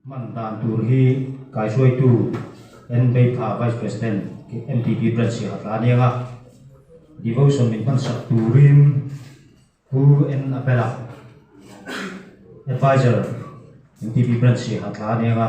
Hman dan tur hi kaihruaitu Enbeitha Vice President mtp Brad Siahatla aniang a devotion min hmansak turin Pu Enapela advisor mtp Brad Siahatla aniang a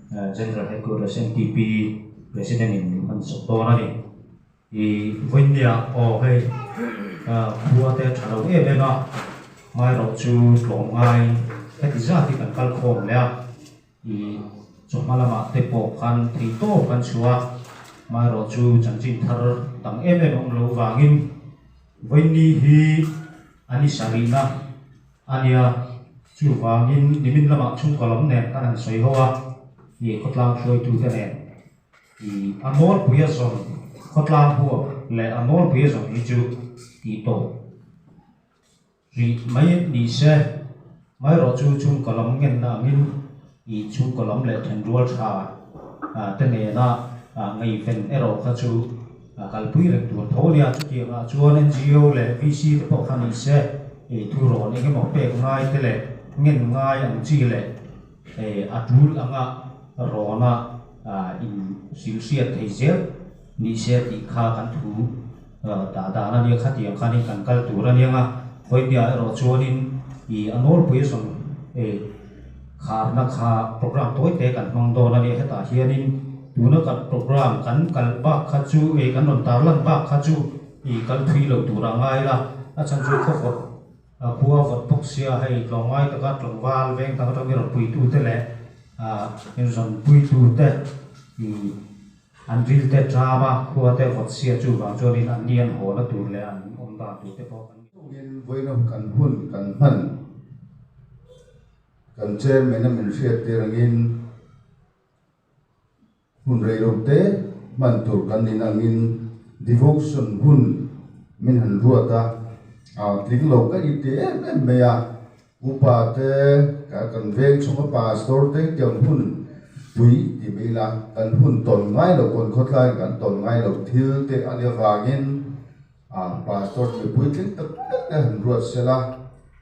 General Headquarters NTP President in min han sawp dawn a ni. I vawinia aw hei khua te tha lo em em a, hmai rawh chu tlawm ngai heti zat hi kan kal khawm leh a, i chaw hma lama te pawh khan thei tawp kan chhu a, hmai rawh chu chanchin thar dang em em a awm lo vangin vawinia hi a ni sarihna. A nia, chuvangin nimin lamah chhungkaw lam nen ka rawn sawi ho a, mi khawtlang hruaitute nen i a nawlpuia zawng khawtlang buak leh a nawlpuia zawng hi chu tih tawh rih mai nise, maherawhchu chhungkaw lam ngenna angin I chhungkaw lam leh thenrual tha te nena ngeiven erawh kha chu kalpui reng tur tho nia. Chutiangah chuan NGO leh VC te pawh kha ni se i thu rawn engemaw pek ngai te leh ngen ngai ang chi leh a tul angah rawna in sim hriat thei zel. Ni sel tih kha kan thu dah dan a nia, khatiang khanin kan kal tur a nia nga. Khawipiah erawh chuanin i a nawlpui rawn kharna kha programme tawi te kan hmang dawn a nia. Hetah hianin tuna kan programme kan kal bak kha chu ih kan rawn tar lan bak kha chu ih kal phui lo tur a ngai la. A chhan chu khawvawt a khua vawt bawk sia hei tlawngai taka tlangval veng dang atangin rawn puitute leh ih rawn puitute ih-- An vilte ṭam a, khuate vawtsia chu vang chuanin an ni an haw la tur leh an awm dan tur te pawh an ni. Chungin vawiinawm kan hun kan hman kan chairman a min hriat tir angin hun reilote te hman tur kan nih na angin devotion hun min han ruat a, aa tling lo ka i ti em em mai a. Upa te, kan veng chhunga pastor te hi kan hun pui tih mai ila, kan hun tawn ngai lo, kawn khawtlaiin kan tawn ngai lo thil te a nia vangin pastor mipui tling tak tak te han ruatsel a,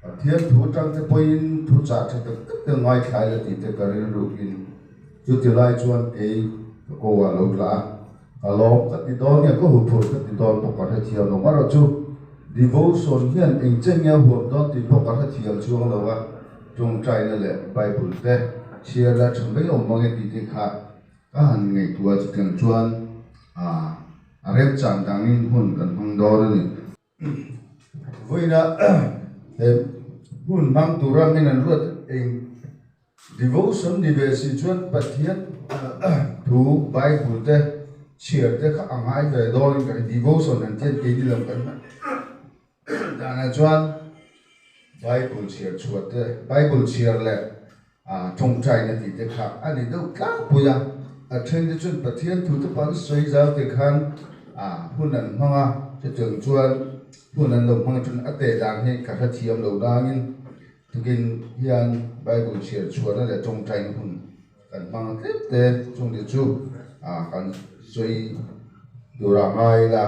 Pathian thu atang te pawhin thu chah tha tak tak te ngaithlai la tih te ka rilrukin chutilai chuan kei ka ko a lo tla a. A lawm ka ti dawn nge, ka huphurh ka ti dawn pawh ka hrethiam lo. Marawh chu, devotion hian eng che nge huam dawn tih pawh ka hrethiam chuang lo a, tawngtaina leh Bible te chhiar la tha mai awm ange tih te kha ka han ngaihtuah. Chutiang chuan a remchang dangin hun kan hmang dawn a ni. vawiina he hun hmang tura min an ruat eng devotion ni ve si chuan pathian thu bible te chhiar te kha a ngai ve dawn in ka hrelo devotion an tih a ni keini lo kan hman danah chuan bible chhiar chhuah te bible chhiar leh. A tawngtaina tih te kha a ni deuh tlangpui a, a then te chuan Pathian thu te pawh an sawi zau teh khan a hun an hmang a, chutiang chuan hun an lo hmang atangin a teh dan hi ka hrethiam lo dangin tukin hian Bible chhiar chhuahna leh tawngtaina hun kan hmang a tlem te chungte chu a kan sawi tura ngai la.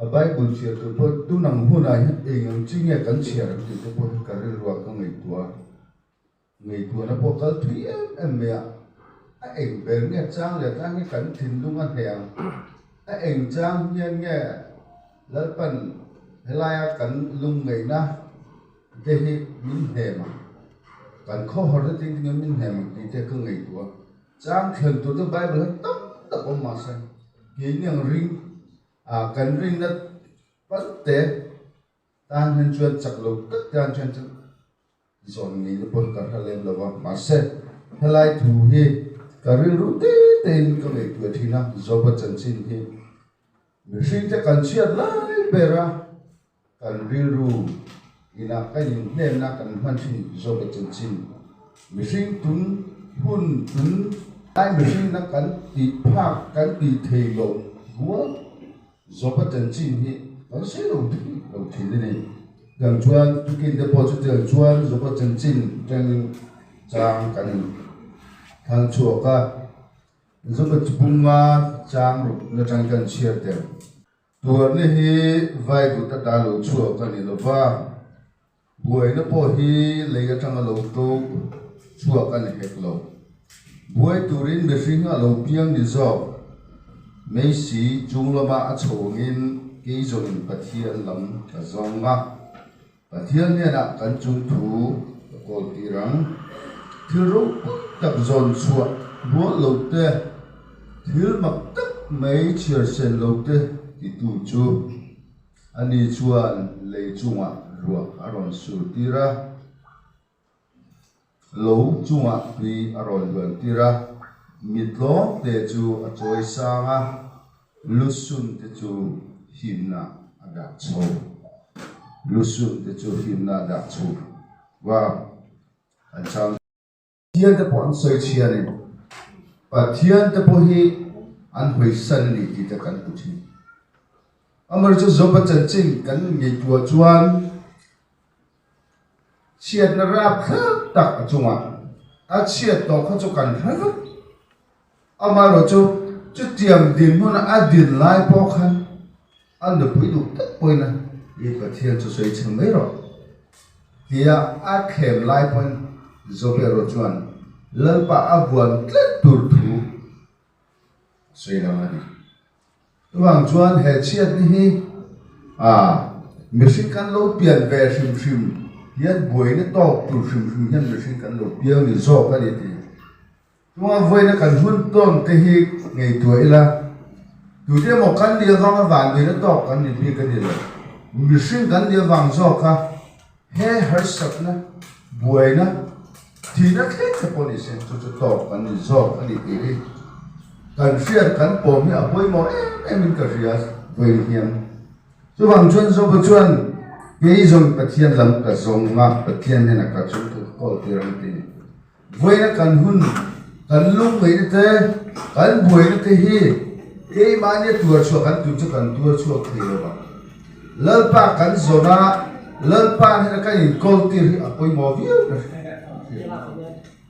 A Bible chhiar tur pawh tun ang hunah hian eng ang chi nge kan chhiar ang tih te pawh hian ka rilruah ka ngaihtuah a, ngaihtuahna pawh kal thui em em mai a, a eng ber nge chang leh tlang hian kan thinlung a hneh ang, a eng chang hian nge Lalpan helaia kan lung ngaihna te hi min hnem ang, kan khawhawrh zetin ka nih ang min hnem ang tih te ka ngaihtuah a. Chang thlen tur te Bible ah tam tak awm mah se, keini ang ring ah kan ring na pal te tan hian chuan chak lo kat te ang chuan chu zawn ngei na pawn ka hre lem lova. Mah se helai thu hi ka rilru te tein ka ngaihtuah thin a, Joba chanchin hi. Mihring te kan chhiat lai ber a, kan rilru inah ka inhnemna kan hman thin zawk a chinchin. Mihring tun hun tun lai mihring na kan tih phak kan tih thei loh rual zawk a chanchin hi kan sei lo thik lo thin a ni. Tiang chuan tukin te pawh chutiang chuan zawk a chanchin tengin chang kan thangchhuak a. Zoba chu bum a chang rawh na tang chuan an chhiar tel. Tuarna hi vaivut atah lo chhuak a ni lo va, buaina pawh hi lei atanga lo to chhuak a ni hek lo. Buai turin mihring a lo piang ni zawk meisi chunglama a chho angin keizawn in Pathian lam ka zawng a. Pathian hnena kan chung thu ka kawl tir ang, thil ropui tak zawn chhuah rual lo te, thil mak tak mai chhiar sen lo te ti tu chu ani chuan lei chungah ruak a rawn sur tir a. lo chungah hlui a rawn luan tir a, mi tlawm te chu a chawi sang a, lu sun te chu himnah a dah chho, lu sun te chu himnah a dah chho va an chang tawh. Pathian te pawh an sawi chhi a ni, Pathian te pawh hi an hawi san a ni tih te kan hmu thin. Amaherawhchu Joba chanchin kan ngaihtuah chuan, chhiatna rap thlak tak a chungah a chhiat tawh kha chu kan hre vek, amaherawh chu chutiang dinhmun a din lai pawh khan a nupui duh tak pawhin a i Pathian chu sawi chhe mai rawh tia a thlem lai pawhin Jobeiro chuan Lalpa a vuan tlat tur thu a sawi hlawm a ni. Chuvang chuan he chhiatni hi aah mihring kan lo pian ve hrim hrim hian buaina tawk tur hrim hrim hian mihring kan lo piau ni zawk a ni tih a. Chunga vawiina kan hun tawn te hi ngaihtuah ila tui te emaw kan nih avanga vanduina tawk kan ni bik a ni lo. Mihring kan nih avang zawk a. He harsatna buaina thihna tlem te pawh ni se, chu chu tawp kan ni zawk a ni tih hi kan hriat kan pawm hi a pawimawh em em in ka hria ve hiam. Chuvang chuan Joba chuan, Kei zawn Pathian lam ka zawng a, Pathian hian a ka chungkhawlh tir ang tih ni. Vawiina kan hun, kan lungngeihna te, kan buaina te hi keimahnia tuarchhuah kan tih chu kan tuarchhuak thei lo bang. Lalpa kan zawn a, Lalpa hnen a kan inkawl tir hi a pawimawh viau nasa.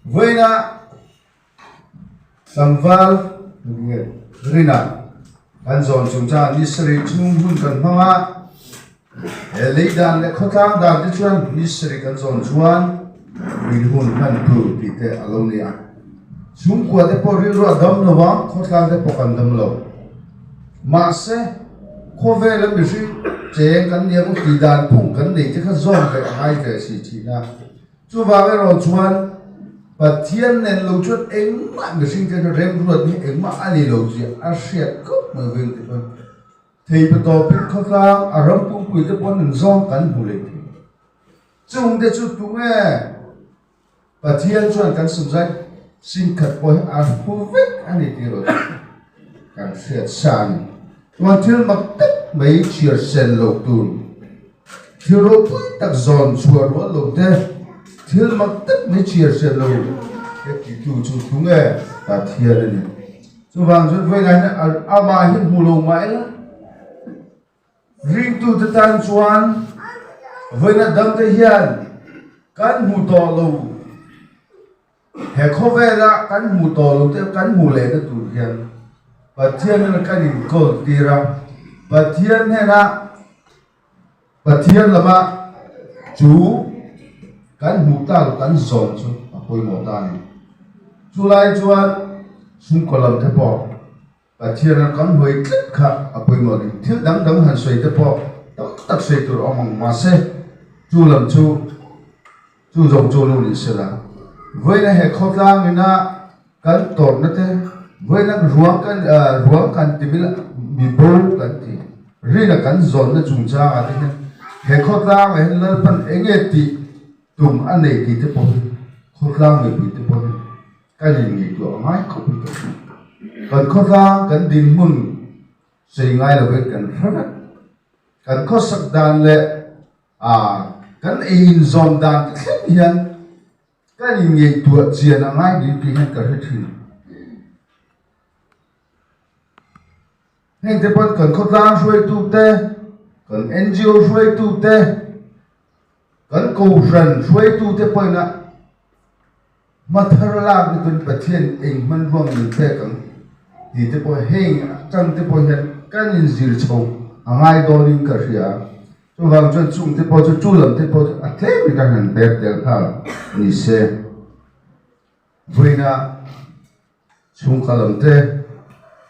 Vawiina. Tlangval riat rinah kan zawn chung caah Nisarih chhung hun kan hmang a, he lei dan leh khawtlang dan te chuan Nisarih kan zawn chuan min hun hman tu tih te a lo ni a. Chhungkua te pawh rilru a dam lo a, khawtlang te pawh kan dam lo. Mahse, khawvela mihring cheng kan nia maw tih dan phung kan nei te kha zawm ve a ngai ve si thihna. Chuvang erawh chuan Pathian nen lo chuan engmah mihring te chu remruat ni engmah a ni lo zia a hriat khawp mai veng ti chuan Theipa Tawpin khawtlang a ram pumpuii te pawh nun zawng kan hmu leh thei. Chung te chu tunge Pathian chuan kan sumzai sin khat pawh hi a hmu vek a ni tih erawh chu kan hriat sa a ni. Chuan thil mak tak mai chhiar sen lo tun Thil ropui tak zawn chhuah rual lo te, thil mak tak mai chhiar hriat lo te ti tu chu thung e Pathian a ni. Chuvang chuan vawilah hian a ama hi hmu lo mah eng ring tu te tan chuan vawilah dam te hian kan hmu tawh lo. He khawvela kan hmuh tawh lo te, kan hmuh leh na tur hian Pathian hnena kan inkawl tir a, Pathian hnena, Pathian lama chu kan hmuh ta lo, kan zawm chu a pawimawh ta a ni. Chulai chuan chhungkaw lam te pawh, Pathiana kan hawi tlat kha a pawimawh ding thil dang dang han sawi te pawh tam tak sawi tur a awm ang mahse chu lam chu chu zawng chu lu nih sela vawiina he khawtlang ina kan tawrh na te vawiina ruang kan ruang kan ti mil mi bo kan ti rina kan zawn na chung chang a te hian he khawtlang ah hian lalpan enge ti tum a nei ti te pawh hi khawtlang mi pui te pawh hi Ka rin ni tluah ngai khawp hi ka hre. Kan khawtlang kan ding hmun sei ngai lovin kan hre vat. Kan khawsak dan leh ah kan ei inzawn dan te thleng hian ka rin ngaihtuah chian a ngai ni tih hian ka hre thin. Hengte pawn kan khawtlang hruaitute, kan NGO hruaitute, kan kohhran hruaitute pawnah hmathar lak lutuin Pathian eng hman ruang min pek ang tite pawh heng atangte pawh hian kan inzir chho a ngai dawnin ka hria a. Chuvang chuan chungte pawh chu, chu lamte pawh chu a tlem hi ka han pek tel phak ni se. Vawiina chhungkal ang te,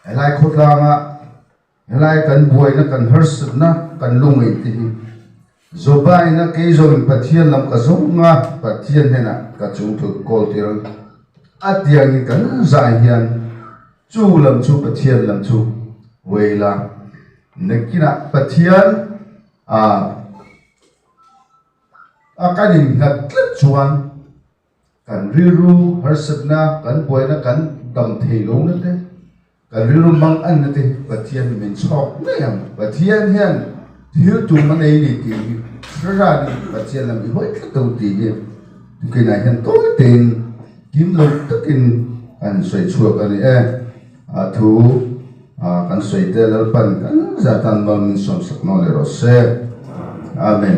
helai khawtlanga helai kan buaina, kan harsatna, kan lu ngei te hi Jobaina kei zawngin Pathian lam ka zawng a, Pathian hnena ka chungthut kawl tir ang a tiangin kan zai hian chu lam chu Pathian lam chu vei la. Nakinah Pathian a a kan innghat tlat chuan, Kan rilru harsatna, kan buaina kan dam thei lo nate, kan rilru mang an nate Pathian min chhawk mai ang. Pathian hian thil tum a nei ni tih hi Thlarau in Pathian lam i hawi tlat lo tih hi tukin ah hian tawi tein kim lo takin kan sawi chhuak a ni e. A thu kan sawi te lalpan kan zat tan mal min sawmsak nawn leh rawh se. Amen.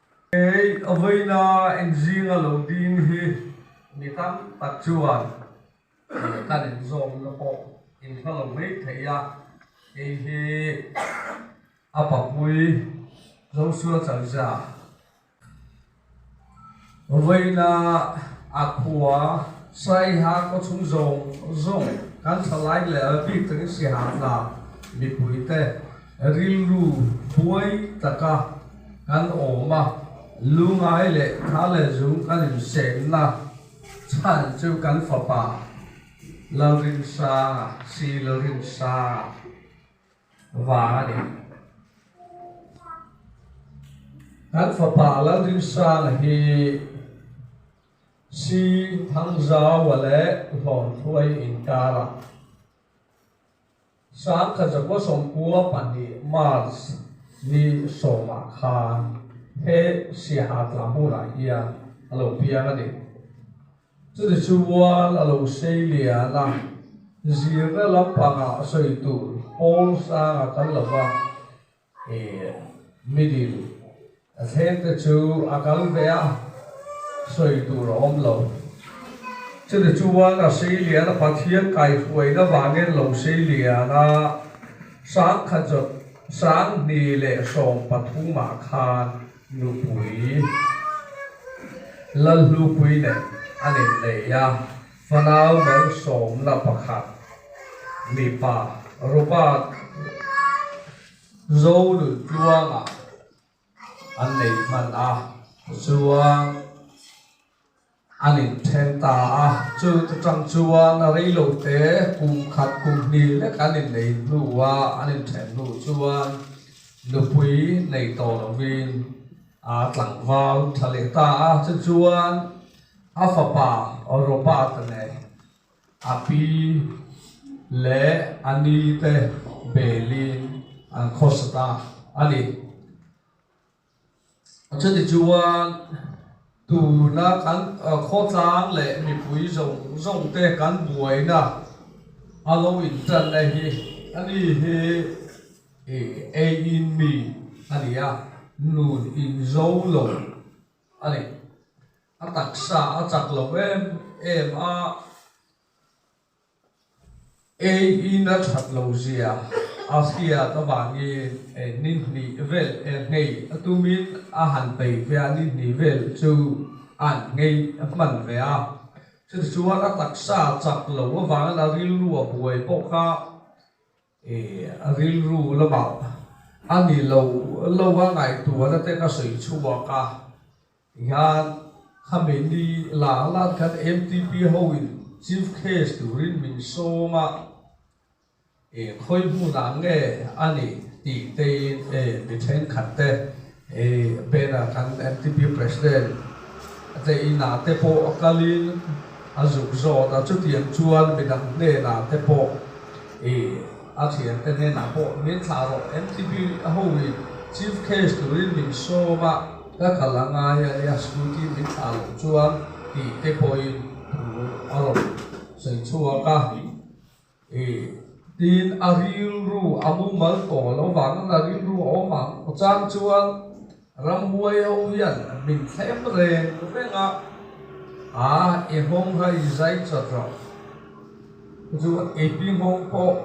Ei, a vawiina inzing a lo ding hi mi tam tak chuan kan inzawmna pawh inhla lo mai thei a, kei hi a papui Joshua Chalzia vawiina a khua Saiha khawchhung zawng zawng kan thla like leh bik takin sihamhna mipuite, Rilru buai taka kan awm a, lungai leh thar leh zung kan insêmna chhan chu kan fapa Lalrinsanga, Sri Lalrinsanga vang a ni. Kan fapa Lalrinsanga hi Sri Thangzawa leh Hlawnthuai inkara. Sangkhat zakua sawmpua pahnih, March, ni sawmah khan he Siaha tlang hunah hian a lo piang a ni. Chutih chuan a lo sei lian a, zirna lampangah sawi tur Paul Sanga kal lo va. Middle a thleng te chu a kal ve a, sawi tur a awm lo. Chumi chuan a sei lian a, Pathian kaihruaina vangin lo sei lian a, sangkhat zawt sanghni leh sawm pathumah khan nupui, lalhlupui nen a nen lei a. Fanau bal sawmna pakhat mipa rupa Zolun tluanga an nei hman a chuan an inthen ta a, chuti tang chuan reilo te kum khat kum hnih lek an innei hnu a, an inthen hnu chuan nupui nei tawh lovin aa tlangval tha leh ta a, chu chuan. A fapa Europa te leh a pi leh a ni te Berlin an khawsat a a ni. Chutih chuan tuna kan khawtlang leh mipui zawng zawng te kan buaina a lo intanna hi a ni hi eiin mi a ni a, nun in zo lo a ni. A taksa a chak lo em em a, ei i na that lo zia a hriat avangin ni hnih vel e ngei a tumin a han peih ve a, ni hnih vel chu an ngei hman ve a, chutichuan a taksa chak lo avangin a rilru a buai bawk a. A rilru lamah a ni lo lo a ngaihtuah ate'n a sawi chhuak a, hian khami ni lak lak khan mtp hoin chief case turin min sawm a, khawi hmunah nge a nih tih tein mi thenkhat te He banner kan mtp president Tlei Nah te pawh a kal in a zuk zawt a, chutiang chuan midang hnenah te pawh i a thian te hnenah pawh min thlah rawh, mtp ho hi chief guest turin min sawm a ka kal a ngai a nia, scooty min thlah loh chuan tih te pawhin thu a rawn sawi chhuak a. Tiin a rilru a mumal tawh lo vangin a rilru a awm ang. Chang chuan rambuai ho hian min thlem reng reng a, Aa i nghawng rei zai chawt rawh. Chu eipi nghawng pawh,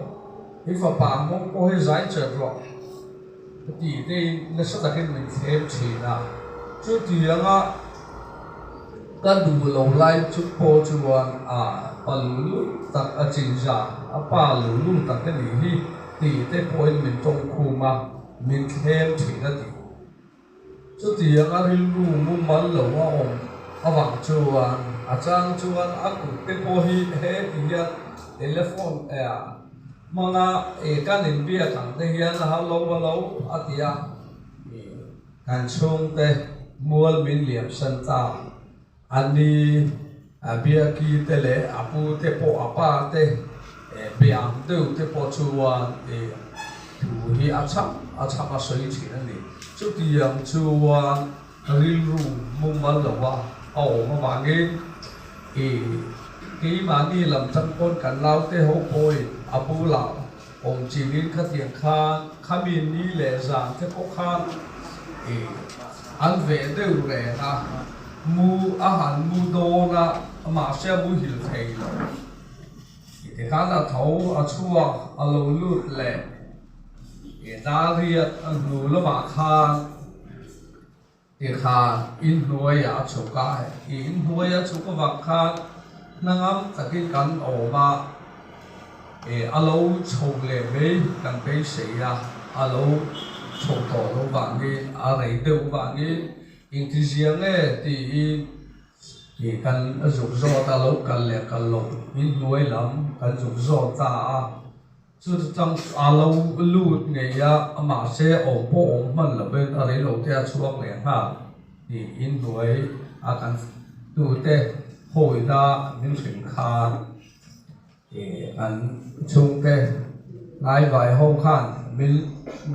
i fapa nghawng pawh hi zai chawt rawh. Ti teiin nasa takin min tlem thin a, chuti langa ka duh lo lai chu pawh chuan a pa luh luh tak a chinzah a, a pa luh luh tak ka nih hi tih te pawhin min tawngkhum a, min tlem thin a ti. Chutianga rilru mumal lo a awm avang chuan a chang chuan a kut te pawh hi heti hian telephone hmanga ih kan in biak ang te hian a hau lo va lo a ti a, kan chhungte mual min liamsan ta. An ni a biaki te leh a pu te pawh a pa te biam deuh te pawh chuan ih thu hi a cham a cham a sawi thin a ni. Chutiang chuan rilru mumal lo a a awm avangin ih keimahni lam changpawn kan lau te ho pawhin a bulah, Awm chingin khatiang khan khami ni leh zan te pawh khan an ve deuh reng a, mu a han mu dawn a, mahse a mu hil thei lo. Tikhan a tho a chhuak a lo lut leh Dariat a hnu lamah khan. Tih kha in hnuai a chhuk a, i in hnuai a chhuk avang khan hnangam takin kan awm a, a lo chho leh mai kan beisei a, a lo chho tawh loh vangin a rei deuh vangin intizia nge tiin ih kan zuk zawt a, lo kal leh kal loh in hnuai lam kan zuk zawt ta a, Chu chu chang a lo lut ngei a, mahse awm pawh awm hman lovin a rei lo te a chhuak leh nghal niin hnuai a kan tute hawina min hrin khan an chhungte ngai vai ho khan min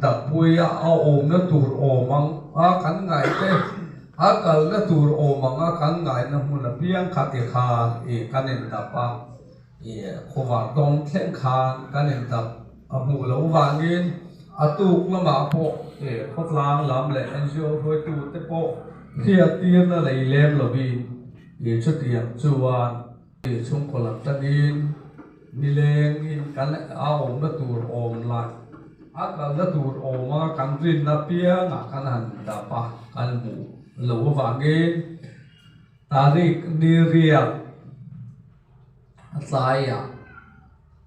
dah pui a, a awmna tur awm ang a kan ngaihte a kalna tur awm ang a kan ngaihna hmun apiang khat i khan kan indap a. Khawvang tawng thleng khan kan en tak a hmuh loh vangin a tuk lamah pawh khawtlang lam leh NGO hruaitu te pawh hriattirna lei lem lovin chutiang chuan chhungkaw lam tangin milengin kan a awmna tur awm la a kalna tur awm a kan rinna piangah kan han dap a kan hmuh loh avangin Tariq ni riak a tlaiah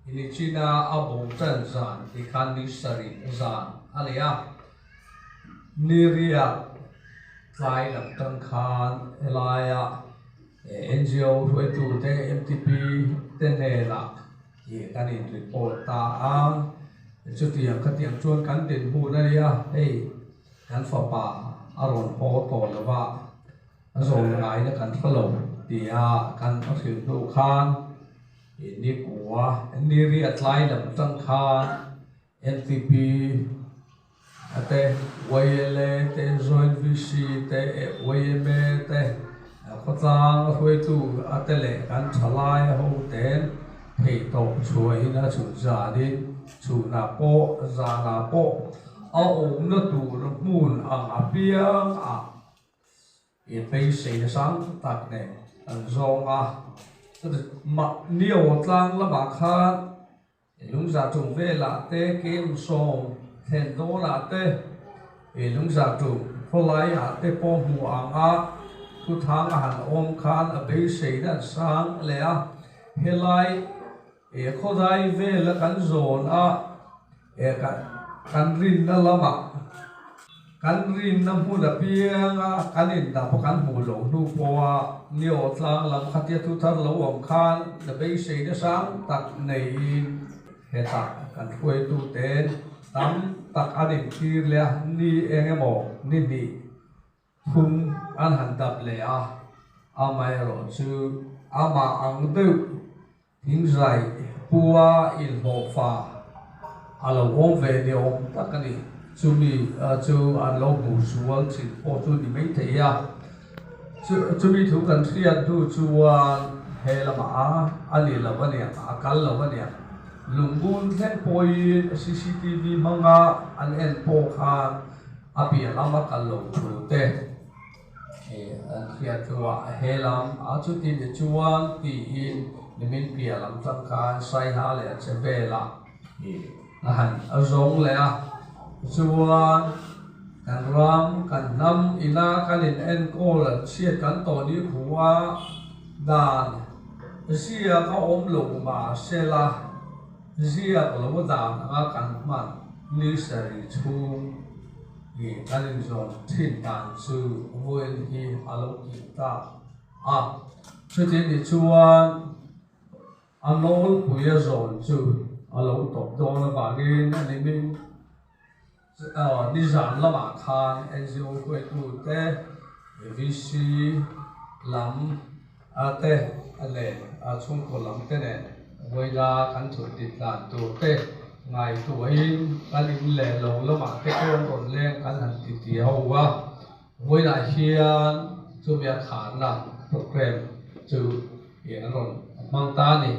i ni china a bawm tan zan tih khan ni sarih zan a ni a. Ni riak tlai lam tan khan helaia NGO hruaitute mtp te nelah ih kan in report ta a, chutiang khatiang chuan kan dinhmun a ni a, hei kan fapa a rawn haw tawh lova. Zawng ngaina kan hre lo tia kan hre thin hnu khan i nipua Niri a tlai lam atang khan mcp te yla te joint vc te yma te khawtlang a hruaitu te leh kan thalai a ho ten thei tawp chhuah in a chhun zan in chhun ah pawh zan ah pawh a awmna tur hmun ang apiang ah Ipe sei na sang tak nen an zawng a mah nio tlang lama khan i lungza tum vela te kem sawm thlen dawn ah te i lungza tum khawlai ah te pawh hmu ang a thu thang a han awm khan a beisei na an sang leh a helai Eh khawdai vel a kan zawn a, eh kan kan rinna lamah, kan rinna hmun apianga kan indah pawh kan hmuh loh hnu pawha ni aw tlang lam khatia thu thar lo awm khan na beiseina sang tak neiin heta kan hruaituten tam tak an intir leh a, ni eng emaw ni hnih. Phung an han dap leh a, amaherawh chu amah ang deuh Thinzai pua inhlawh fah a lo awm ve ni awm tak a ni. Chumi chu an lo bu sual thin pawh chu ni maithei a. Chumi thu kan hriat hnu chuan he lamah a ni lo aniang, a kal lo aniang. Lungbun thleng pawhin cctv hmanga an en pawh khan, A piah lam a kal lo thu te hi an hriat chu a a hel ang a, chuti ni chuan tiin nimin piah lam tangkhain Saiha leh a che vel ah hi a han a zawng leh a. Tichuan kan ram kan hnam ina kan in enkawl an chhiat kan tawh nikhû a, dan ziak a awm lo mah se la, Ziak lo dan anga kan hman ni sarih chhung hi kan inzawn thin dan chu vawiin hi a lo ti ta a, chuti ni chuan a nawlpuia zawn chu a lo tawp dawn avangin a ni min. Nizan lamah khan NGO huaitute, VC lam te leh chhungkaw lam te nen vawiina kan thut dik dan tur te ngai tuahin kan in leh lo lamah te pawh rawnleng kan han ti ti ho a. Vawiinah hian chumi a khanna programme chu eng an rawn hmang ta a ni.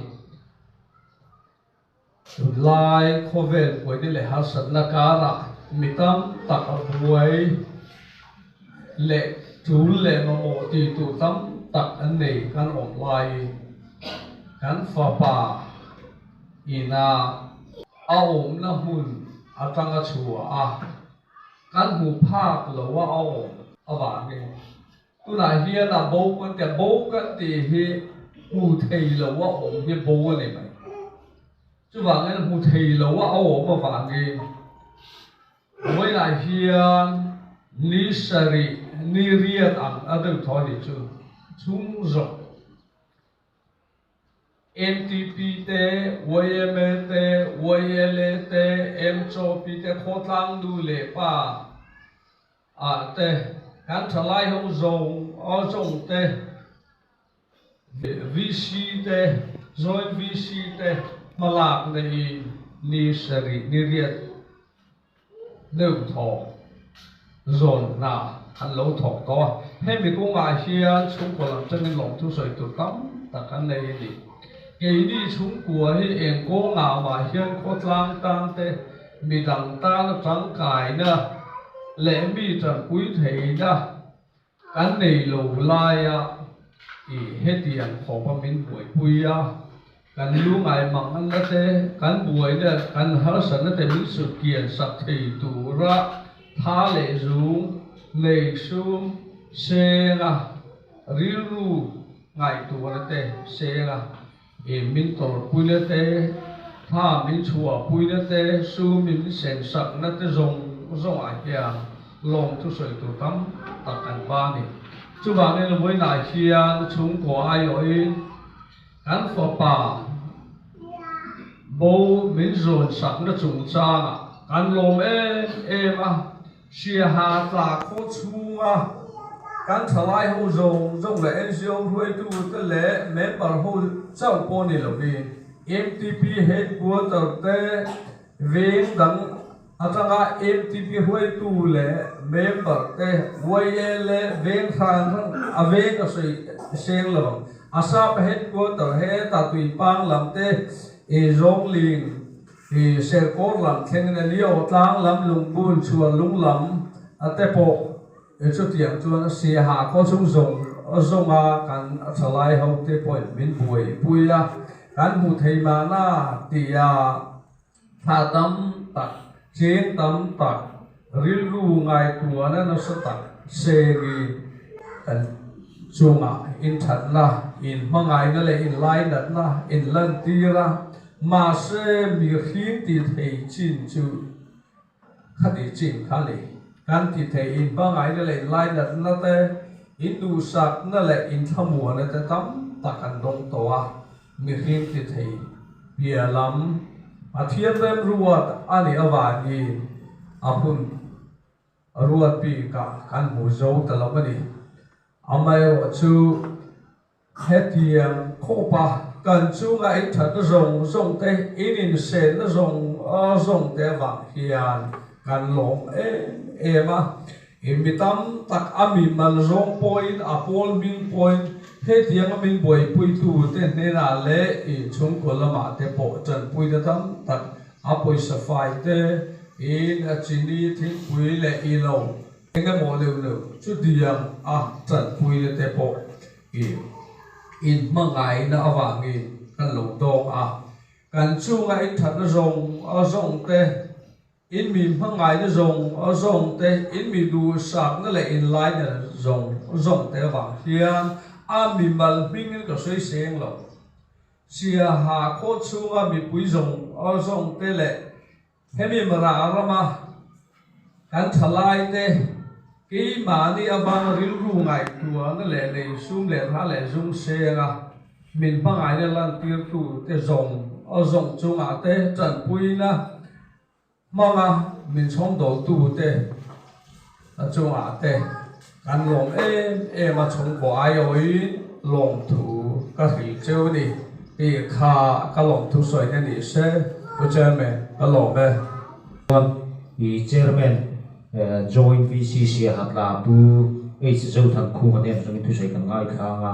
Lai khawvel puaina leh harsatna karah mi tam tak a buai leh tul leh mamawh ti tur tam tak an nei kan awm lai i kan fapa ina a awmna hmun atanga chhuah a kan hmu phak loh a a awm avangin. Tunah hian a bo kan ti a, bo kan tih hi hmu thei lo a awm hi bo a ni mai. Chuvangin hmu thei lo a a awm avangin hnuaiah hian ni sarih, ni riat ang a deuh thaw hi chu chhung zawk NTP te, yma te, yla te, mchp te, Khawtlang nu leh pa, ah te, kan thalai ho zawng aw zawng te, VC te, zawi VC te hmalak nei i ni sarih ni riat neuh thawk zawn hna an lo thawk tawh a. Hemi kung ah hian chhungkaw lam changin lawm thu sawi tur tam tak an nei a ni. Keini chhungkua hi eng kawng ah mah hian khawtlang tan te, mi dang tana tangkaina leh mi tangpui theihna kan nei lo laia i hetiang khawpa min buaipui a, kan lu ngai mangnganna te, kan buai na, kan harsatna te min sutkian sak thei tura tha leh zung nei sum senga rilru ngaihtuahna te senga I min tawr puina te, thla min chhuah puina te, su min sen sakna te zawng zawngah hian lawm thusawi tur tam tak kan hma a ni. Chuvangin vawiinah hian chhungkaw aiawhin kan fapa bo min zawn sakna chungchangah kan lawm em em a. Hriaha tlak pawh chhunga kan thalai ho zawng zawng leh NGO hruaitu te leh member ho chauh pawh ni lovin mtp headquarter te veng dang atanga mtp hruaitu leh member te YL leh veng hran hran a veng a sawi seng lovang Assam headquarter he Tatuipang lam te Zhongling I Serkawr lam thlengin a ni aw, tlang lam Lungbul chhuar lung lam a te pawh i chutiang chuan a si a ha khaw chung zawng zawng a kan a tha lai ho te pawhin min buai i pui a kan hmuh theih mahna tia thla tam tak ching tam tak Rilru ngaihtuahna nasa tak se mi kan chungah inthatna, inhmangaihna leh inlainatna, inlantira, mahse mi hring tithei chin chu khati chin kha a ni. Kan tithei inhmangaihna leh inlainatna te, induhsakna leh inthla muahna te tam tak an dawng tawh a, Nihin ti thei piah lam Pathian rem ruat a nih avangin a hun a ruat bik a kan hmu zo ta lo a ni. Amaherawh chu hetiang khawpa kan chunga inthat zawng zawng te, ininsenna zawng zawng te avang hian kan lawm em em a. I mi tam tak a mi mal zawng pawhin, a pawl hming pawhin hetianga min buaipuitute hnenah leh i chhungkaw lamah te pawh tanpuite tam tak a pawisa fai te, in, a chini, thingpui leh i lo engemaw neuh neuh chu diam a tanpuite te pawh i in hmangaihna avangin kan lo dawng a, kan chunga inthatna zawng zawng te. In mi hmangaihna zawng zawng te, in mi duhsakna leh in laina zawng zawng te vang hian a mimal hmingin ka sawi seng lo. Siaha khawh chhunga mipui zawng zawng te leh hemi Marah rama kan thalai te keimahni avanga rilru ngaihtuahna leh lei sum leh hra leh zung senga, Min hmangaihna lantirtu te zawng zawng chungah te tanpuina hmanga min chhawmdawltu te chungah te kan lawm em em a, chhungkaw aiawhin lawmthu ka hrilh cheu a ni tih kha ka lawmthu sawiina ni se U Chairman ka lawm e. Chuan i Chairman Joint VC Siahatla pu H Zothangkhuma nen atangin thusawi kan ngaithlang a.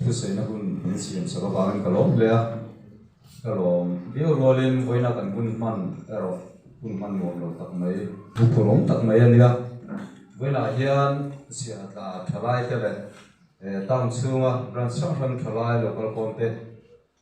Thusaihna hun kan siam sak avangin ka lawm hle a, ka lawm viau rualin vawiina kan hun hman erawh hun hman nuam lo tak mai, pupur awm tak mai a nia. Vawiinah hian Siahatla thalai te leh town chhunga branch hrang hrang thalai local kawmte,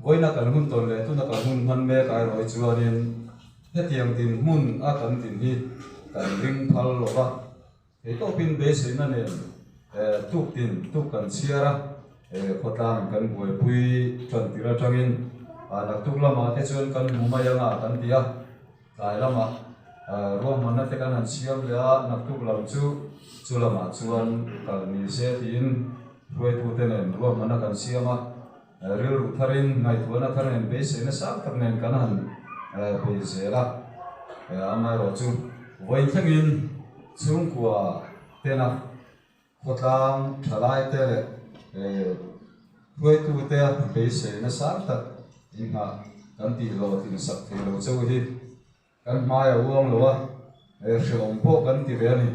Vawiina kan hun tawn leh tuna kan hun hman mek ai rawi chuanin hetiang dinhmun a kan din hi kan ring phal lo va, keitawpin beiseina nen tuk din tuk kan chhiar a, khawtlang in kan buaipui tan tir atangin naktuk lamah te chuan kan hmu mai anga kan ti a, tlai lamah ruahmanna te kan han siam leh a, naktuk lam chu chu lamah chuan kal ni se tiin hruaitu te nen ruahmanna kan siam a. Rilru tharin ngaihtuahna thar nen beiseina sang tak nen kan han bei zel a, amaherawh chu vawiin thlengin chhungkua tena khawtlang thalaite leh hruaitute beiseina sang tak in nghah kan tih lawh tin sak thei lo cheu hi kan hmai a uang lo a, hre awm pawh kan ti ve a ni.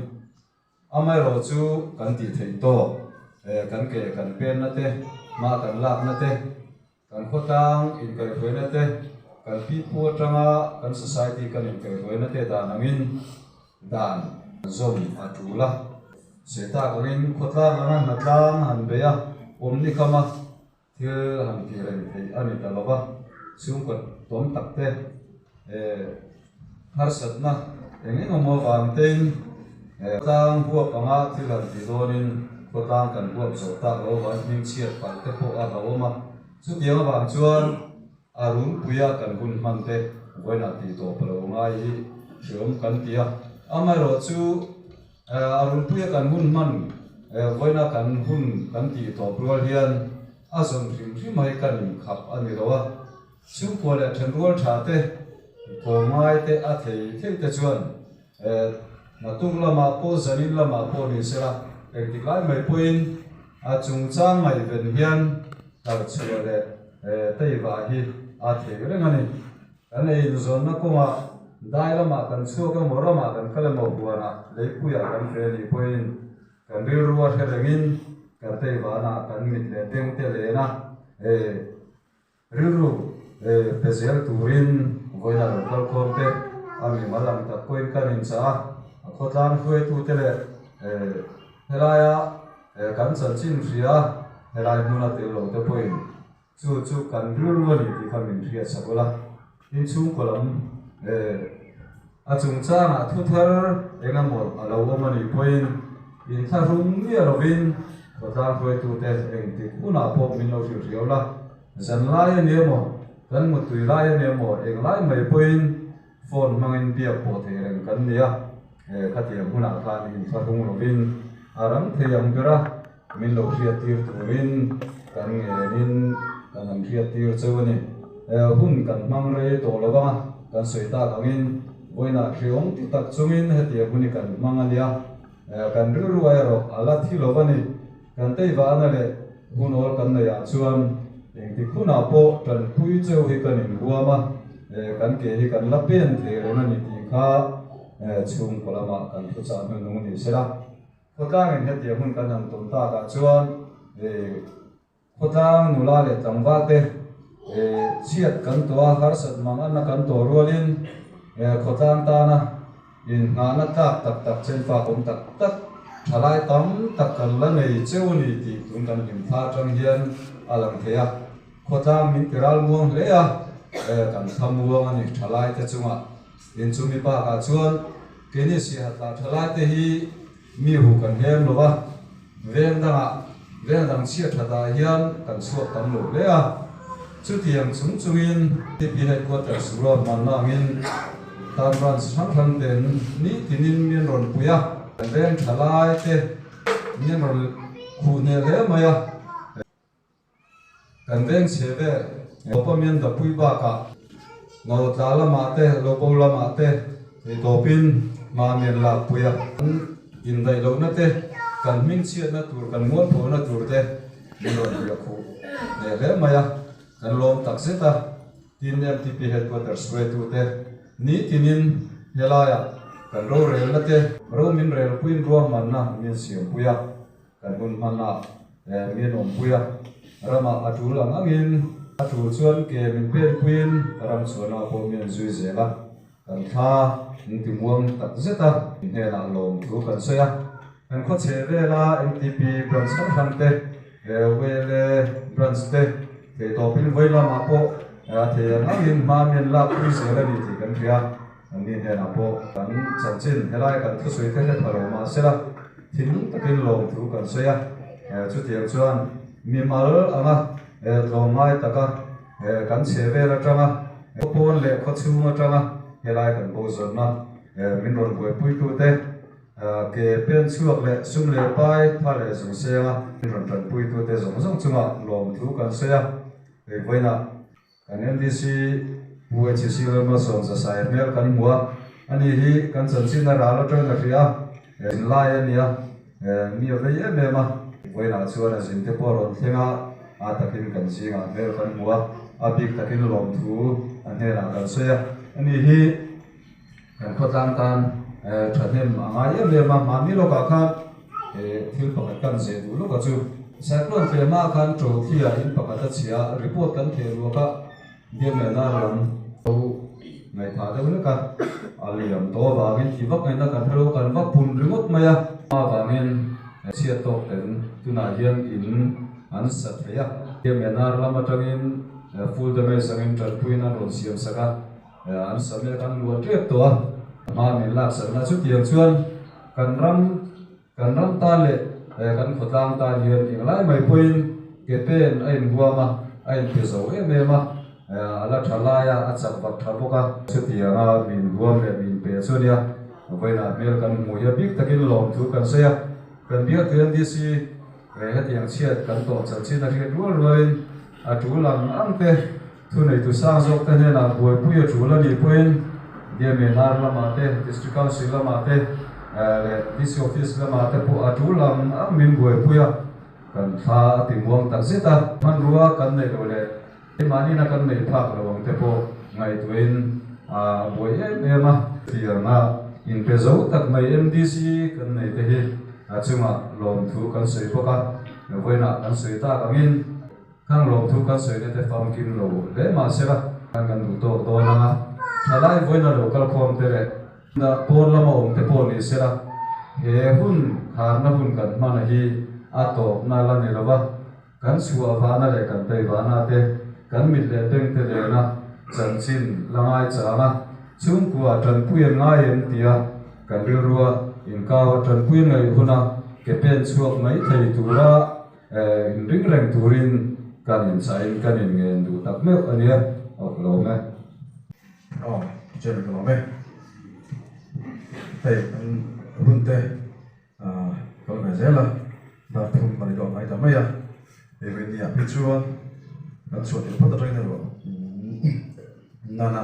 Amaherawh chu kan tih theih tawh e, kan ke kan penna te, hma kan lakna te, kan khawtang inkaihruaina te, kan pi pu atanga kan society kan inkaihruaina te dan angin dan zawm a tul a. Seh tak angin khawtlang lama hna tlang han bei a, awm ni kam a. Thil han ti reng theih a ni ta lo va, chhungkawt tuam tak te, harsatna eng eng emaw vang tein khawtlang huap anga thil han ti dawnin khawtlang kan huap zawh tak lo va, hming chhiat palh te pawh a hauawm a, chutiang avang chuan a runpui a kan hun hman te vawiinah tih tawh palo ngai hi hriawm kan ti a, amaherawhchu A runpuia kan hun hman vawiina kan hun kan tih tawp rual hian a zawn hrim hrim hai ka nih khap a ni lo a. Chhungkua leh then rual tha te, kaw ngai te a thei thei te chuan hnatuk lama pawh zanin lama pawh ni sela eng tik lai mai pawhin a chungchang ngaihven hian tarchhuah leh teiva hi a thei reng a ni. Kan ei inzawnna kawnga dai lamah kan chhuak emaw ramah kan kal emaw huanah leipuiah kan ve nih pawhin kan rilrua hre rengin kan tei vana kan mit leh tengte lehna rilru pe zel turin vawiina lo kal khawm te a mimal ang tak pawhin kan inchah a, a khawtlang hruaitute leh helaia kan chanchin hria helai hmuna tel lote pawhin Chu chu kan ru ru a ni tih kha min hriatchha bawlh a, tin chhungkaw lam a chung changah thu thar engemaw a lo awm a nih pawhin in thlahrung miah lovin khawtlang hruaitute eng tik hunah pawh min lo hrilh riau la, zan lai a nia maw, kan muttui lai a nia maw eng lai mai pawhin. Phone hmangin biak pawh thei reng kan ni a, he khatiang hunah khan in hla hlung lovin a rang thei ang ber a, min lo hriat tir turin kan ngenin kan han hriat tir cheu a ni. Hun kan hmang rei tawh lo vang a, kan sawi tak angin vawiinah hre awm ti tak chungin hetiang hun i kan hmang a nia, kan rilru erawh a la thi lo va ni. Kan teivana leh unawl kan nei ah chuan engtik hunah pawh tanpui cheu hi kan inhuam a, kan ke hi kan la pen thei reng a ni tih kha chhungkaw lamah kan thuchah hnu nung ni se la. Khawtlangin hetiang hun kan han tawn tak ah chuan khawtlang nula leh tlangval te chhiat kan tawh a, harsat mangaihna kan tawh rualin khawtlang tana, Inhngahna tlak tak tak chen fak awm tak tak, thalai tam tak kan la nei cheu a ni tih tun kan hlim thla atang hian a lang thei a. Khawtlang min ti ralmuang hle a, eh kan tha muang a ni thalaite chungah. Inchung mi bakah chuan Kenny Siahatla thalaite hi Mi hu kan heng lo a, veng dangah veng dang chhiat tha ta hian kan chhuak tam lo hle a. Chutiang chung chungin PP Headquarters rual hmanna angin tan Branch hrang hrang ten ni tinin min rawn pui a. Kan veng thalai te min rawn khuh hneh hle mai a. Kan veng chhe ber Lopa Miandapui bakah lo tla lamah te, lo bo lamah te thei tawpin hma men lakpui a. Kan indaih lohna te, kan hming chhiatna tur, kan mualphuahna tur te min rawn riah khuh leh hle mai a. Kan lawm tak zet a, tin mtp Headquarters ruaitu te ni tinin helaiah kan rorelna te, romin relpuiin ruahmanna min siampui a. Kan hun hmanah eh min awm pui a, ramah a tul ang angin a tul chuan ke min pen puiin ka ram chuanah pawh min an zui zel a, kan thla engtimuang tak zeta mi hnenah lawm thu kan sawi a. Kan khawchheh vela mtp branch hrang hrangte, Wele branch te thei tawpin vawilamah pawh a thei ang angin hma min lak pui zel a ni tih kan hria. Kan ni hnenah pawh kan chanchin helai kan thusawi kha hep halo mahsela thinlung takin lawm thu kan sawi a, chutiang chuan mimal anga tlawm ngai taka kan chhehvel atanga khawpawn leh khawchhung atanga helai kan bozawtna min rawn buaipuitute, ke penchhuak leh sum leh pai, tha leh zung senga min rawn tanpuitute zawng zawng chunga lawm thu kan sawi a, eivawiinah. NLDC Hnuai Chi Sir Rama Sawm Zasai hmel kan hmu a, ani hi kan chanchinna ral aṭawiin a hria a, zin lai a nia, mi a vei em em a, vawiinah chuan a zin te pawh a rawn thleng a, a takin kan zingah hmel kan hmu a, a bik takin lawmthu a hnenah kan sawi a, ani hi. Kan khawtlang tan thahnem a ngai em em a, mahni lawkah khan thil pakhat kan zeh duh lawk a chu. Cyclone pe hma khan trophy a in pakhat a chhia a, report kan theh ruak a, Damian a rawn to ngaithah deuh hlek a, a liam tawh avangin ti vak ngaihna kan hrelo kan va pun ringawt mai a, a vangin chhiat tawk ten tunah hian in an sa thei a, Damian ar lam atangin full damage angin tanpuiin an rawn siam sak a. An sawi mai a kan luan tep tawh a, a hma min laksanna chutiang chuan kan ram kan ram tan leh kan khawtlang tan hian englai mai pawhin ke pen a inhuam a, a inpe zo em em a, a la tha laia a chak bak tha bawk a. Chutianga min huam leh min pe chu nia vawiinah hmel kan hmu hi a bik takin lawm thu kan sawi a, kan biak thei ang DC hetiang chhiat kan tawm chan chhin a hriat rual rualin a tul ang ang te. Thu neitu sang zawk te hnenah buaipui a ṭul a nih pawhin DMNR lamah te, District Council lamah te leh DC Office lamah te pawh a ṭul ang ang min buaipui a, kan thla a timuang tak zet a. Hmanrua kan neih loh leh keimahnihna kan neih phak loh ang te pawh ngaihtuahin a buai em em a. Fianga in pe zo tak mai MDC kan nei te hi a chungah lawmthu kan sawi bawk a, vawiinah kan sawi tak angin. Khang lo chu kan sawi nete fam kim lo hle mah se kha khan kan duh tawk dawn ang a, thalai vawiina lo kal khawm te leh dah pawn lama awm te pawh ni se la he hun kharna hun kan hmana hi a tawkna la ni lova, kan chhuah vahna leh kan bei vahna te kan mit leh beng te lena chanchin la ngaichang a, chhungkua tanpuiin ngai em tia kan rilrua inkau a, tanpuiin ngaihuna ke pen chhuak mai thei tura. In ring reng turin kan in chah in kan in ngen duh tak meuh a nia. Awk lawm e. Awk chen lawm e. Hei kan runte kal ve zel a, dar thum a ni duak ngai ta mai a. Hei vei ni ah hi chuan kan chhuah tel phawt atangin erawh nana.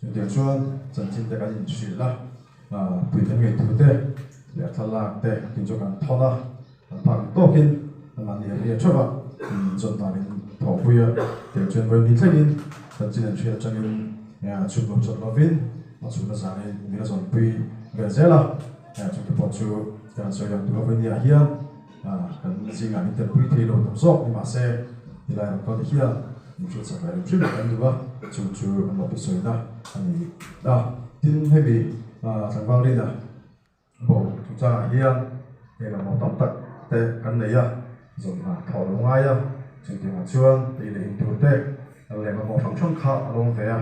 Chutiang chuan chanchin te kan inhrilh a, puitling ngeitur te leh a thlalak te tin chu kan thawn a, kan phak dik tawkin mahni a hria theuh a imm zawt nan in thawhpui a, tiang chuan vawi ni thlengin chanchin an hrilh atangin a chhuk lo chawt lovin a chhuna zangin min a zawnpui vel zel a, chutipawh chu kan sawi dan tur a vawi ni ah hian. Kan zingah min telpui thei lo tam zawk, nimahse helai rangkame hian infiam chak leh rim hrim kan duh a, chung chu an lo hrisawina a ni a. Tin, hemi tlangval rina bo chungchangah hian hei lo mo tam tak te kan nei a, zawng hnah tho a lo ngai a, chutiang ah chuan tei leh in tur te leh mamawh hrang hrang kha a lo awm ve a.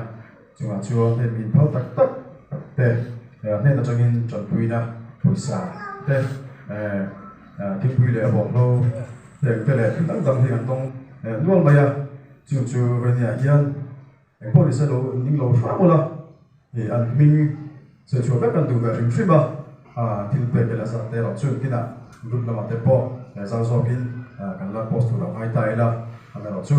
Chungah chuan hei mi inphau tak tak te hnen atangin ṭanpuina pawisa te thingpui leh a bawnglo peng te leh thil dang dang hi an tawng nual mai a. Chung chu vawinia hian eng pawh ni se lo an ding lo hram awla ih an hming sawi chhuah vek a, an duh ve hrim hrim a. Thil pek ila zat te erawh chu engtin a group lamah te pawh zau zawkin kan la post tur auh nghai ta ila kan erawh chu.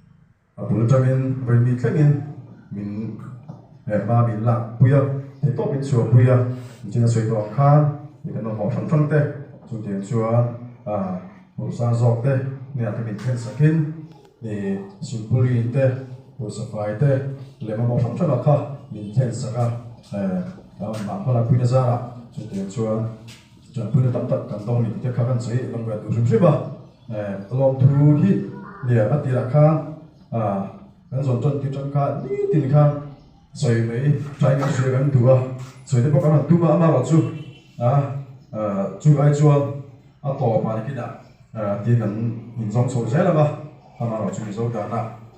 A bul tangin vaimi tlengin min leh va min lakpui a, thei tawp min chhuahpui a, nchin a sawi tawh ang khan mi kan mamawh hrang hrang te chutiang chuan pawrhsa zawk te neiah te min khen sakin silpulin te pawrhsa fai te leh mamawh hrang hrang ah kha min khen sak a, hnah hma lakpuina zara chutiang chuan ṭanpuina tam tak kan dawng ni tih te kha kan sawi langruat duh hrim hrim a. Lawmthu hi nia a tirah kha kan zawn tawn tir tan kha nitin kha sawi mai trying a hria kan duh a, sawi te pawh kan rawn tum a amaherawh chu chulai chuan a tawp ah kin ah tir kan inzawm chhoh zel ang a, amaherawh chu mizo danah.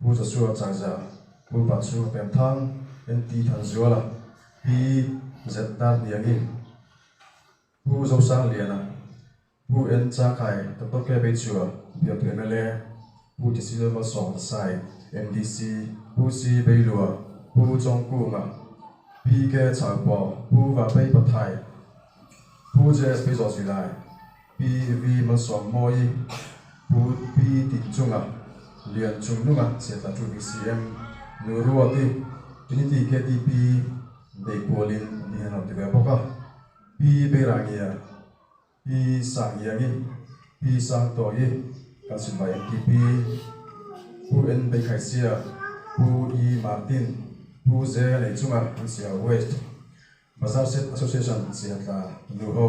Pu Za Su a chang zia a, Pu Ban Su a pem thang, en ti than zual a, Pi Zet Tar Niang in Pu Zo Sang Lian a, Pu En Cha Khai Doktor Kep ei chu a, Biap mla, Pu Ti Silem Mal Sawng Za Sai, MDC, Pu Si Bei Lua, Pu Chawng Kung a, Pi Ke Chau Paw, Pu Va Pei Pa Thai, Pu JS Pei Zaw Zui Lai, Pi vi man sawm maw i? Pu Pi tin chunga lian chung nunga chhiat a ṭut isi em? Nu Ruat i in i ti ke ti Pi Dei Kual in an ti hian hauh ti ve bawk a. Pi Beirangia, Pi Sangiang i Pi Sangtawi i kan sin vai em ti Pi? Pu En Beikhaisia, Pu I Martin, Pu Zea nei chunga an si hauh West Bazar Set Association chhiat la nu ho.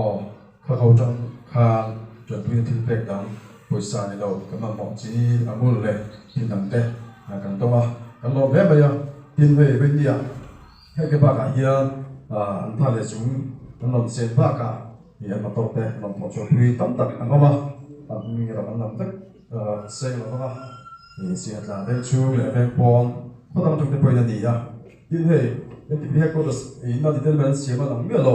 Aw, kha kho tang khan Tuanpuia thil pek dang pawisa ni lo ka mamawh chi a mul leh thil dang te kan tawng a, kan lawm hle mai a, tin hei Rinnia hei ka bakah hian an pa leh chung an rawn chet bakah i an motor te an rawn thawh chhuahpui tam tak an awm a, an ni loh an lam vek seng lo vang a, Siahtla veng chhung leh veng pawn khaw dang tangte pawhin a ni a, tin hei NTPH quotas inna ti te lam hi an siam a lang miah lo,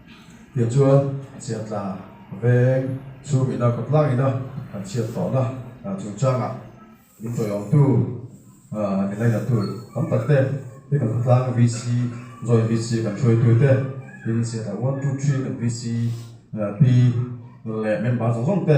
Tia chuan Chiah tla veng chu min au kawtlak in a kan chhiat tawh na chung changah min chawi awm tu min la inla tu tam tak te hi kan khawtlang VC joint VC kan hruai tu te tin Chiah tla one two three kan VC pi leh member zawng zawng te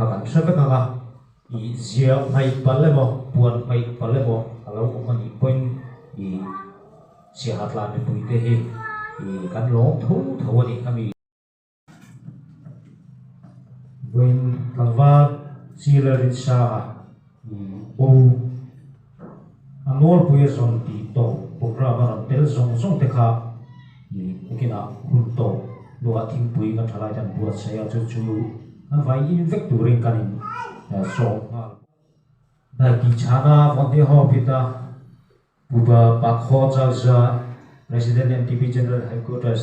A kan hre vek ang a, ih zia hmai pal emaw puan hmai pal emaw a lo awm a nih pawhin ih Siahatla mipui te hi ih kan lawm tho tho a ni ami. Vawiin tlangval Chile rinsanga. Bo a nawlpuia zawn tih tawh program a rawn tel zawng zawng te kha bikinah hun tawh luah thingpui anga thalai te an buat chhe a chu chu an vai in vek turin kan in sawm nghal bawk. Hnai tih chhana volunteer ho a pit a, Puba Pakhaw Chalza, President MTP General Headquarters,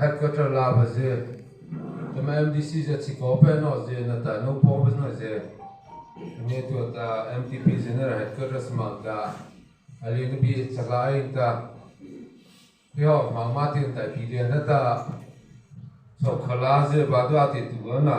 Headquarter lava ze kema mdc ze chhi kaw peh nawh ze na ta no pawng ves nawih ze enge tu a ta mtp general headquarter sima ta ali na bih chakla a in ta hi ho hma ma ti ta ti lian heta chawk khala ze ba duh a ti tu na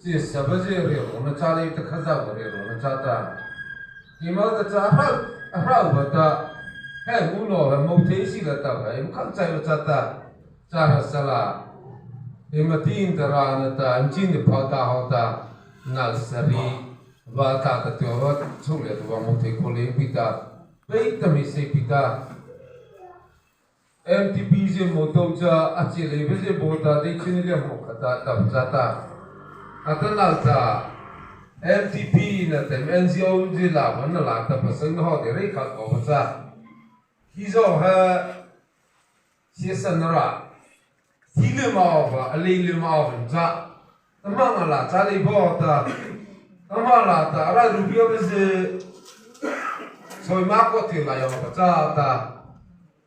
Chî sava zîa riah rawh na cha lei te kha zau ka riah rawh na cha ta tih mau ta cha a hrau a hrau va ta heng u naw han mo thei si la ta vai lukham chai va cha ta cha hra sa la i ma ti in ta ra na ta in chin te phau ta ho ta nal sari va ta ta ti ho chhuk leh tu va mo thei kho leng pi ta pei ta mi sei pi ta. Mtp zia maw to cha a che lei ve zia bo ta dei chini le hmuh kha ta ta ta ta a ta nak cha mtp in a tem NGO in zia la van na la ta pasal na haw derei kha ko va cha hi zawng ha siasan rah Zi leh mau va, a lei leh mau vem chah. Ka hma nga la cha lei pawh ta, ka hma la ta, a rai rupi awm e se. Sawima kawt tir lah yawng a va cha ta.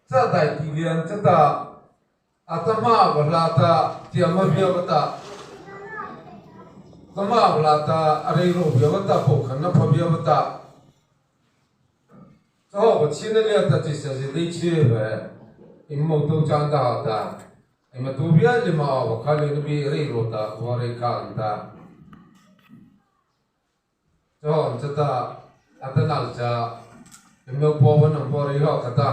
Cha dai tih leh an cha ta, a ka hma a va hla ta, tiah hma viau a ta. Ka hma a va hla ta, a rei rawh viau a ta, pawh khan a pha viau a ta. Aw Pathian a nia ta chi sasi dei chhir ve in mo to chan ta ha ta i ma tu vial i ma aw kha leh na bih rei ro ta khua rei kha an ta cho an cha ta a ta nak cha i mo po van an po rei ho kha ta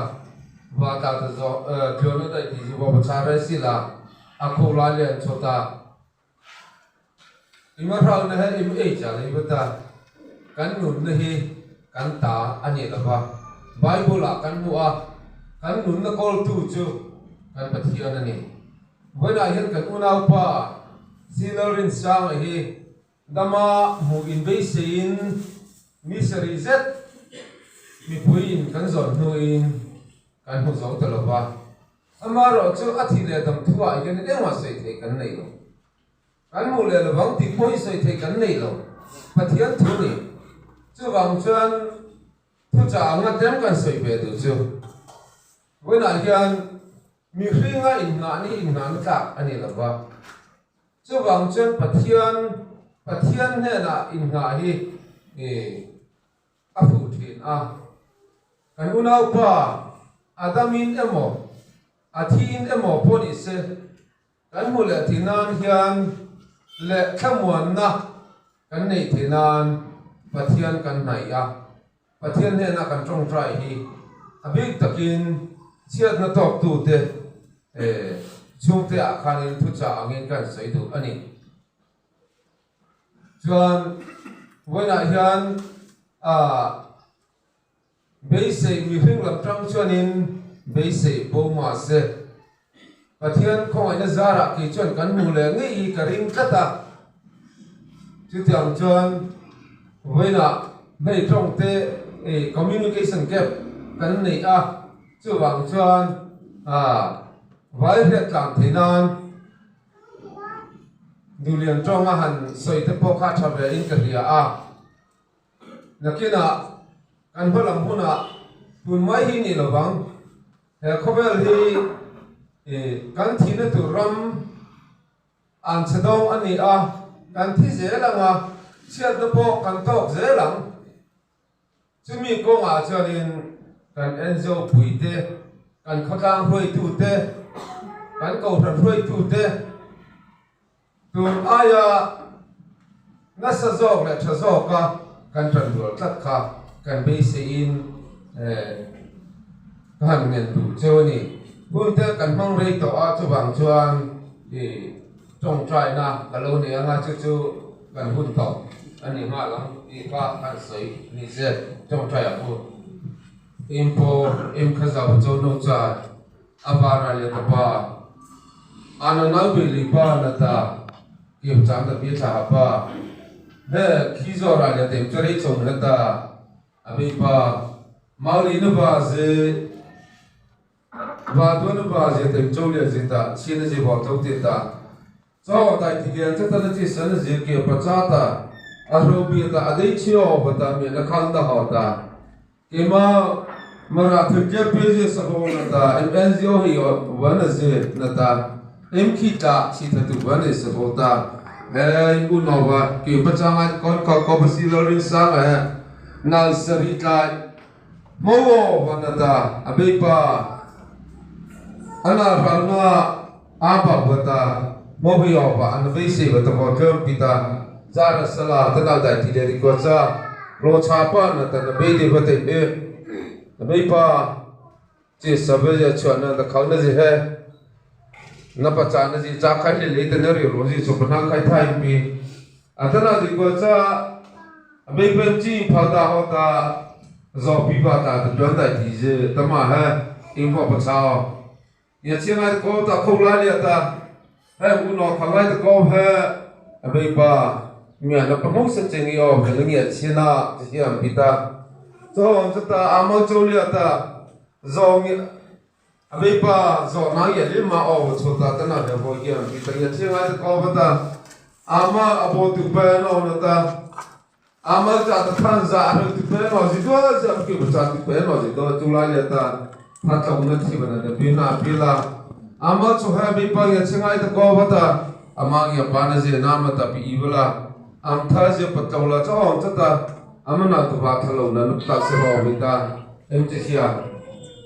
va ta ta zo tluan na dai ti zu va va char rei si la a kho la leh an cho ta I ma hrauna he i ma ei chiah leh ivat a, kan nunna hi kan ta a ni lo va. Bible ah kan hmuh a, kan nunna kawltu chu kan Pathian a ni. Vawiinah hian kan unaupa Sina Rinsangaih hi dama hmuh in beisei in mi sarih zet mipui in kan zawn hnu in kan hmu zo ta lo va. Amah erawh chu a thih leh dam thu ah hianin engmah sawi theih kan nei lo. Kan hmuh leh lo vang tih pawhin sawi theih kan nei lo. Pathian thu ni. Chuvang chuan thuchah a ngat em kan sawi ve duh chu. Vawiinah hian mihringa innghahna hi innghahna tlak a ni lo va. Chuvang chuan Pathian, Pathian hnenah innghah hi A fuh thin a, kan unaupa Adamin emaw, a thin emaw pawh ni se, kan hmu leh ti nan hian leh thlamuanna kan nei thei nan Pathian kan hnaih a. Pathian hnena kan tawngtai hi a bik takin chhiatna tawktute chhungte ah khanin thuchah angin kan sawi duh a ni. Chuan vawilah hian beisei mihreng lam tang chuanin beisei bo mahse Pathian khawngaihna zarah kei chuan kan hmu leh ngei hi ka ring tlat a. Chutiang chuan vawilah hei tawngte communication gap kan neih a, chuvang chuan vai hriat tlan thei nan, Nulian tawng a han sawi te pawh kha tha ve in ka hria a. Nakinah kan hmalam hunah tun mai hi ni lo vang. He khawvel hi kan thihna tur ram an chhe dawng a ni a, kan thi zel ang a, chhiatna pawh kan tawk zel ang. Chumi kawngah chuanin kan Enzopuite, kan khawtlang hruaitute, kan kohhran hruaitute tun aia nasa zawk leh tha zawka kan tan dual tlat kha kan beiseiin ka han ngen duh cheu a ni. Huntel kan hmangrei tawh a chuvang chuan i. Tawng try na ka lo nei anga chu chu kan hun tawh a ni nghal ang tih kha an sawi ni zet tawng try ah pawh em paw em kha zau chau no chuan a bana leh ka pa a na nau beh li pa na ta kem chang ta pi tha pa he khi zawr ah leh tem che rei chawm heta a bei pa mau li na ba ze Vaa tuan upa zia teng cho liat zing ta, chhin a zi huam lo teh ta. Chau a ngai thik lian che ta na chi san a zir keh pa cha ta, a hro biak a, a dei chhe aw va ta mian a khal na haw ta. Kema marah thil tlem pe zia sa ho na ta, em NGO hi va na ze na ta, em khi tla chhi tha tu va nei sa fo ta. Hei u no va, keh pa cha ngai na kawn kau kau va si lo ring sang eh, nalsa rih tlai. Mau aw van a ta a beipa ana hral na aa bak va ta mau hi aw va ana vei sei va ta vaw tlawn pi ta zara sala ta na dai ti leh ri kuat sa hlawh chha pan atan a bei deh va teih e a beipa. Che Savelia chhuahna na khau na zi he na pacha na zi chang khai hlei lei te na ri rawh zi chawpa na khai tha in pi a ta na zi kual cha a bei peng chi in phau ta haw ta zawk pi pa ta te tuan dai ti zi ta mah he in huah pacha aw nia chiang ngai ta kho ta kho lai lia ta. Heng u nawr kha ngaite ko he a beipa mia na pa hmose che nge aw kan nge a chhian a ka hre ang bit a chawng chata a mau cho lia ta zawng nge a beipa zawh na nge hle ma aw chho ta ta na hle hawi hiam bit a nge a chhian ngaite ko va ta ama a bo tu pen aw na ta. A Malta ta khan za a hel ti hle emaw zi duai zi a awm kibo chah ti hle emaw zi duai tu lai leh tan kha tlawmna thim an la pi hna a pi la. A Mal chu he mi pang i a chingai ta ko vat a, a mang i a pan a zia na mat a pi i vala. Ang thar zia pat tlo la chauh ang chata a man a tlova tha lo na nuptak se rawh a hmi ta em ti hliam.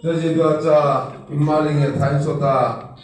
Cun zi duai caah i mal i nge tha in sawt a?